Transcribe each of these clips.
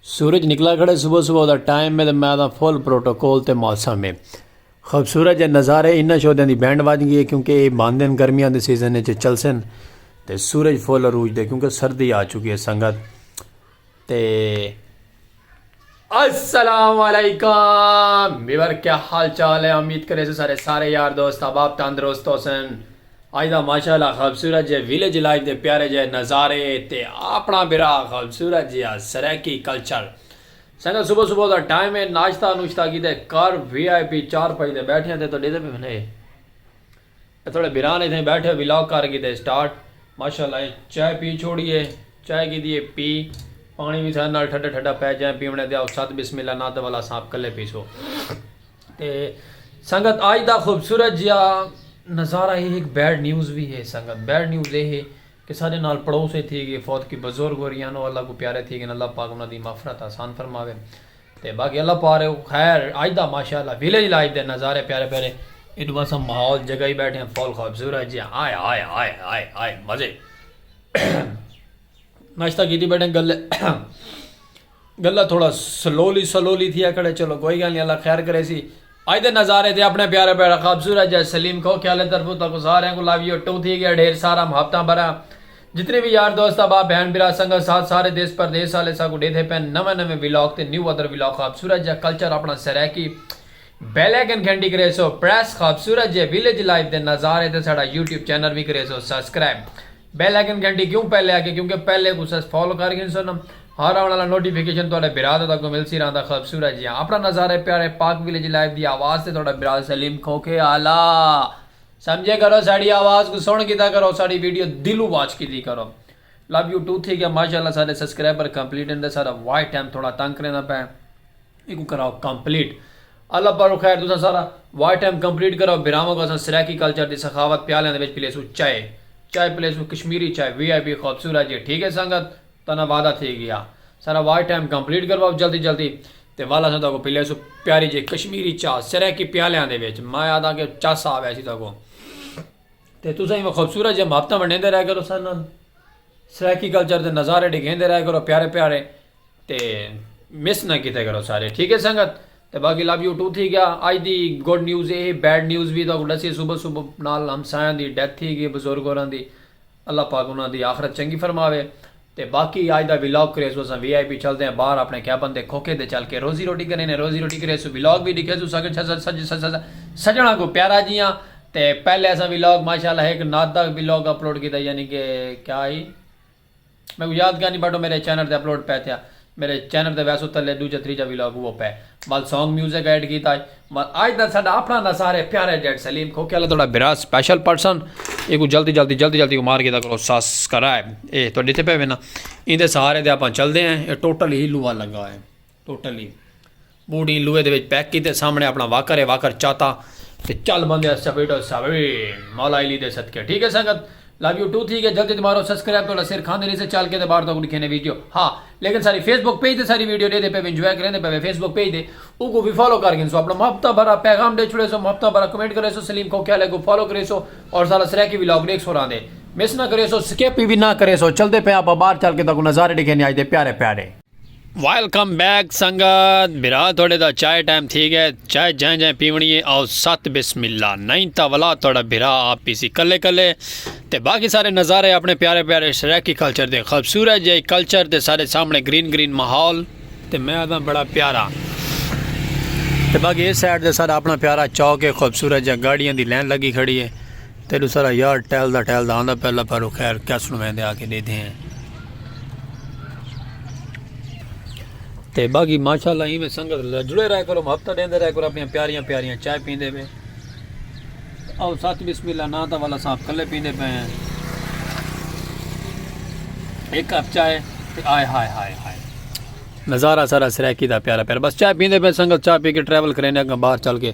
سورج نکلا کھڑے صبح صبح دا ٹائم میں میں آدھا فل پروٹوکول تے موسم میں خوبصورت جے نظارے انہاں شودیاں دی بینڈ بج گئی ہے کیونکہ یہ باندھ دن گرمیاں دے سیزن چل سن تے سورج فل عروج دے کیونکہ سردی آ چکی ہے سنگت تے السلام علیکم ویور کیا حال چال ہے امید کرے سو سارے سارے یار دوست احباب تندرست ہوسن اج دا ماشاءاللہ خوبصورت جے ویلیج لائف دے پیارے جے نظارے تے اپنا برا خوبصورت جے سرائیکی کلچر سنگا صبح صبح دا ٹائم ہے ناشتہ نوشتہ کیتے کر وی آئی پی چار پائی دے بیٹھے ہیں تے تو ڈیدے پہ بھنے تھوڑے بھران اتھائی بیٹھے ولاگ کر گھدے سٹارٹ ماشاءاللہ اے چائے پی چھوڑی اے چائے گھدی اے پی پانی وی سارے نال ٹھڈا ٹھڈا پے جائیں پیونے دے آؤ ساتھ بسم اللہ نا تے والا سانپ کلے پیسو تے سنگت آج دا خوبصورت جیا نظارہ ہی ایک بیڈ نیوز وی ہے سنگت بیڈ نیوز اے ہے کہ سارے نال پڑوس اے تھی گئے فوت کی بزرگ ہو رہی انو اللہ کو پیارے تھی گئے اللہ پاک انہاں دی مغفرت آسان فرماوے تے باقی اللہ پار ہے خیر اج دا ماشاءاللہ ویلیج لائف دے نظارے پیارے پیارے ایڈو باسا ماحول جگہ ہی بیٹھے ہیں فول خوبصورت ہے جی ہائے ہائے ہائے ہائے ہائے مزے ناشتہ کی تھی بیٹھے گلے گلہ تھوڑا سلولی سلولی تھی اکڑے چلو کوئی گل نہیں اللہ خیر کرے سی اج دے نظارے تے اپنڑے پیارے بھیڑا خوبصورت جج سلیم کھوکھے آلے طرفوں تہاکوں ساریاں کوں لو یو ٹو تھی گیا ڈھیر سارا محبتاں بھرا جتنے وی یار دوست احباب بھین بھرا سنگت ساتھ سارے دیس پردیس آلے ساکوں ڈیدھے پین نویں نویں ولاگ تے نیو ادر ولاگ خوبصورت جا کلچر اپنڑا سرائیکی بیلیکن گھنٹی کریسو پریس خوبصورت جے ویلیج لائف دے نظارے تے ساڈا یوٹیوب چینل وی کریسو سبسکرائب بیل آئیکن گھنٹی کیوں پہلے آ گئے کیونکہ پہلے کوں سس فالو کر گھن سن ہر آن والا نوٹیفیکیشن تہاڈے برا دا تہاکوں ملسی رہندا خوبصورت جیاں اپنا نظارے پیارے پاک ویلیج لائیو دی آواز تے تہاڈا برا سلیم کھوکھے آلا سمجھے کرو ساڈی آواز کوں سن کیتا کرو ساڈی ویڈیو دلوں واچ کیتی کرو لو یو ٹو تھی گیا ماشاءاللہ ساڈے سبسکرائبر کمپلیٹ ہن تے ساڈا واچ ٹائم تھوڑا تنگ کریندا پئے۔ ایکوں کراؤ کمپلیٹ۔ اللہ پاروں خیر تساں سارا واچ ٹائم کمپلیٹ کراؤ بھراواں کو اساں سرائیکی کلچر دی سخاوت پیالیاں دے وچ پلیسوں چائے چائے پلیسوں کشمیری چائے وی آئی پی خوبصورت جی ٹھیک ہے سنگت تہاڈا وعدہ تھی گیا سارا واچ ٹائم کمپلیٹ کرواؤ جلدی جلدی تے ول اساں تہاکوں پلیسوں پیاری جی کشمیری چائے سرائیکی پیالیاں دے وچ میں آکھداں کہ چس آ ویسی تہاکوں تے تساں ایویں خوبصورت جیہاں محبتاں ونڈیندے رہیا کرو سارے نال سرائیکی کلچر دے نظارے ڈکھیندے رہیا کرو پیارے پیارے تے مس نہ کیتے کرو سارے ٹھیک ہے سنگت تے باقی لو یو ٹو تھی گیا اج دی گڈ نیوز اے بیڈ نیوز وی تو ڈسی صبح صبح نال ہمسایاں دی ڈیتھ تھی گئی بزرگ ہوراں دی اللہ پاک انہاں دی آخرت چنگی فرماوے تے باقی اج دا ولاگ کرے سو اساں وی آئی پی چلدے ہیں باہر اپنے کیبن دے کھوکے دے چل کے روزی روٹی کرے نے روزی روٹی کرے سو ولاگ وی ڈکھے سو سگے سج سج سج سج سجنا کو پیارا جیاں تے پہلے اساں ولاگ ماشاءاللہ ایک نات دا ولاگ اپلوڈ کیتا یعنی کہ کیا ہی میکوں یاد کیاں نی بٹو میرے چینل تے اپلوڈ پے تھیا میرے چینل تے ویسو تلے ڈوجا تریجا ولاگ اوو پے ول سونگ میوزک ایڈ کیتا ہئی ول آج دا ساڈا اپنا نہ سارے پیارے جیڈ سلیم کھوکھے والا تہاڈا بھرا سپیشل پرسن ایکوں جلدی جلدی جلدی جلدی مار کیتا کرو سبسکرائب اے تہاڈے تے پے وینا ایندے سہارے تے اپاں چلدے ہیں اے ٹوٹل ہی لوہا لگا ہے ٹوٹلی بوڑی لوہے دے وچ پیک کیتے سامنے اپنا واکر ہے واکر چاتا تے چل بندے اس چپیٹو ساوی مولا علی دے صدقے ٹھیک ہے سنگت لو یو ٹو تھی گیا جلدی مارو سبسکرائب تو سر کھاندے نہیں سے چل کے تے باہر تک دکھینے ویڈیو ہاں لیکن ساری فیس بک پیج تے ساری ویڈیو دے دے پے انجوائے کریں دے پے فیس بک پیج دے او کو بھی فالو کر گن سو اپنا محبتہ بھرا پیغام دے چھڑے سو محبتہ بھرا کمنٹ کرے سو سلیم کو کیا لے کو فالو کرے سو اور سارا سریکی ویلاگ دیکھ سو راندے مس نہ کرے سو سکیپ بھی نہ کرے سو چل دے پے آپ باہر چل کے تک نظارے دکھینے آج دے پیارے پیارے ویلکم بیک سنگت برا تھوڑے دا چائے ٹائم تھی گئے چائے جائیں جائیں پیونی ہے آؤ ست بسم اللہ نہیں تا ولا تھوڑا برا آپ پی سی کلے کلے تے باقی سارے نظارے اپنے پیارے پیارے سریکی کلچر دے خوبصورت جائے کلچر تے سارے سامنے گرین گرین ماحول تے میں آدھا بڑا پیارا تے باقی اس سائڈ دے سارا اپنا پیارا چوک ہے خوبصورت جا گاڑیاں دی لین لگی کھڑی ہے تیڈو سارا یار ٹہلدا ٹہلدا آندا پیا لبھا رو خیر کیا سنویندے آ کے ڈیدھے ہیں تے باقی ماشاءاللہ ایویں سنگت جڑے رہے کرو ہفتہ دیندے رہے کرو اپنی پیاریاں پیاریاں چائے پیندے پے او سات بسم اللہ نا تا والا صاحب کلے پیندے پے ہیں ایک کپ چائے تے آئے ہائے ہائے ہائے نظارہ سارا سرائکی دا پیارا پیارا بس چائے پیندے پے سنگت چائے پی کے ٹریول کرینے اگاں باہر چل کے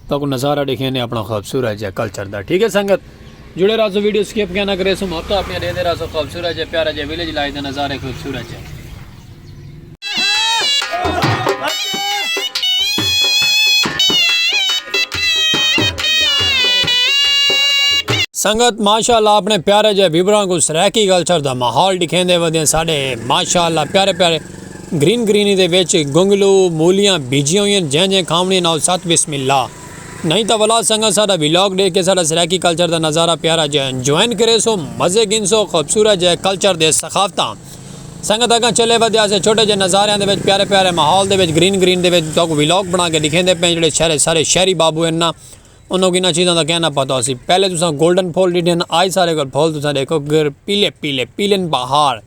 تاکو نظارہ دیکھیں نے اپنا خوبصورت جا کلچر دا ٹھیک ہے سنگت جڑے رازو ویڈیو سکیپ کیا نہ کرے سو موت تو اپنے دیدے رازو خوبصورت جا پیارا جا ویلیج لائے دا نظارہ خوبصورت جا سنگت ماشاءاللہ اپنے پیارے جے بیبران کو سرائکی گلچر دا محول دکھیں دے ودیں ساڑے ماشاءاللہ پیارے پیارے گرین گرینی دے وچ گنگلو، مولیاں بھیجیاں ہوئین جیں جیں کھاونڑیں نال ست بسم اللہ۔ نئیں تاں ولا سنگت ساڈا ولاگ ڈیکھ کے ساڈا سرائیکی کلچر دا نظارہ پیارا جیہا انجوائن کریسو مزے گھنسو خوبصورت جیہے کلچر دے ثقافتاں سنگت اگاں چلے ودھیاسے چھوٹے جیہے نظاریاں دے وچ پیارے پیارے ماحول دے وچ گرین گرین دے وچ تہاکوں ولاگ بنا کے ڈکھیندے پئیں جیہڑے شہرے سارے شہری بابو ہن نا انہاکوں انہاں چیزاں دا کہیں نا پتہ ہوسی پہلے تساں گولڈن پھول ڈیٹھے ہن آج سارے کول پھول تساں ڈیکھو گر پیلے پیلے پیلن بہار۔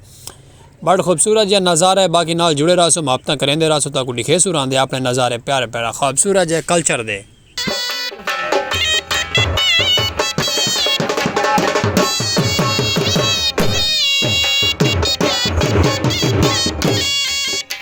بڑ خوبصورت جے نظارہ ہے باقی نال جڑے رہسو محبتاں کریندے رہسو تاکو ڈکھے سو راندے اپنے نظارے پیارے پیارے خوبصورت جے کلچر دے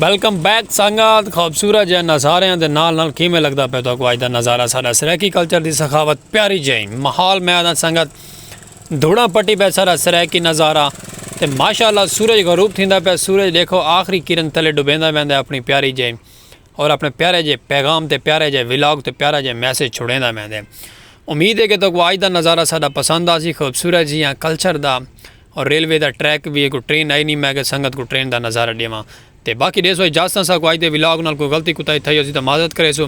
ویلکم بیک سنگات خوبصورت جے نظاریاں دے نال نال کیویں لگدا پے تو کو اج دا نظارہ سارا سرائیکی کلچر دی سخاوت پیاری جے محال میں آدھا سنگت دھوڑا پٹی پے سارا سرائیکی نظارہ تے ماشاءاللہ سورج غروب تھیندا پے سورج دیکھو آخری کرن تلے ڈوبیندا ویندا اپنی پیاری جے اور اپنے پیارے جے پیغام تے پیارے جے ولاگ تے پیارا جے میسج چھوڑیندا ویندا امید ہے کہ تو کو اج دا نظارہ سارا پسند آسی خوبصورت جیاں کلچر دا اور ریلوے دا ٹریک وی ہے کوئی ٹرین آئی نی میں اگے سنگت کوں ٹرین دا نظارہ ڈیواں تے باقی ڈیسو اجازتاں ساکوں اج دے ولاگ نال کوئی غلطی کوتاہی تھئی ہوسی تاں معذرت کریسو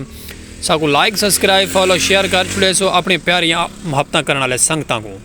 ساکوں لائک سبسکرائب فالو شیئر کر چھوڑیسو اپنی پیاریاں محبتاں کرن آلے سنگتاں کوں۔